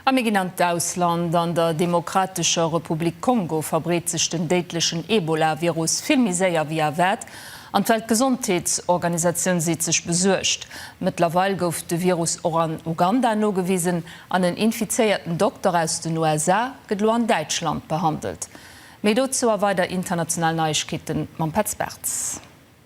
A mir ginn an d'Ausland. An der Demokratescher Republik Kongo verbreet sech den déidlechen Ebola-Virus vill méi séier ewéi erwaart an d'Weltgesondheetsorganisatioun seet sech besuergt. Mëttlerweil gouf de Virus och an Uganda nogewisen an en infizéierten Dokter aus den USA gëtt elo an Däitschland behandelt. Méi dozou a weider international Neiegkeete mam Petz Bartz.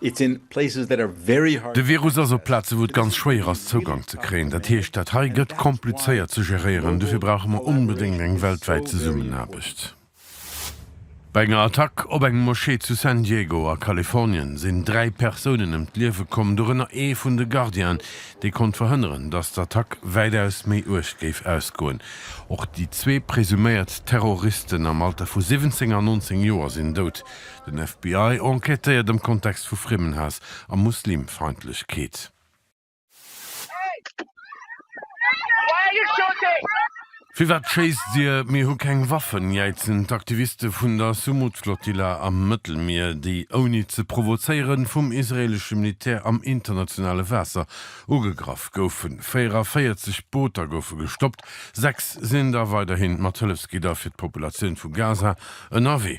De Virus ass op Plaze wou et ganz schwéier ass Zougank ze kréien. Dat heescht, dat hei gëtt komplizéiert ze geréieren. Dofir brauche mer onbedéngt eng weltwäit Zesummenaarbecht. Bei enger Attack op eng Moschee zu San Diego a Kalifornien sinn dräi Persounen ëm d'Liewe komm, dorënner ee vun de Gardienen, dee konnt verhënneren, datt d'Attack wäitaus méi uerg géif ausgoen. Och déi zwee presuméiert Terroristen am Alter vu 17 a 19 Joer sinn dout. Den FBI enquêtéiert am Kontext vu Friemmenhaass a Muslimfeindlechkeet. Firwat schéisst Dir? Mir hu keng Waffen, jäizen d'Aktiviste vun der Sumud-Flottilla am Mëttelmier, déi ouni ze provozéieren vum israeelesche Militär am internationale Waasser ugegraff goufen. 44 Booter goufe gestoppt, sechs sinn da weiderhi mat Hëllefsgidder fir d'Populatioun vu Gaza ënnerwee.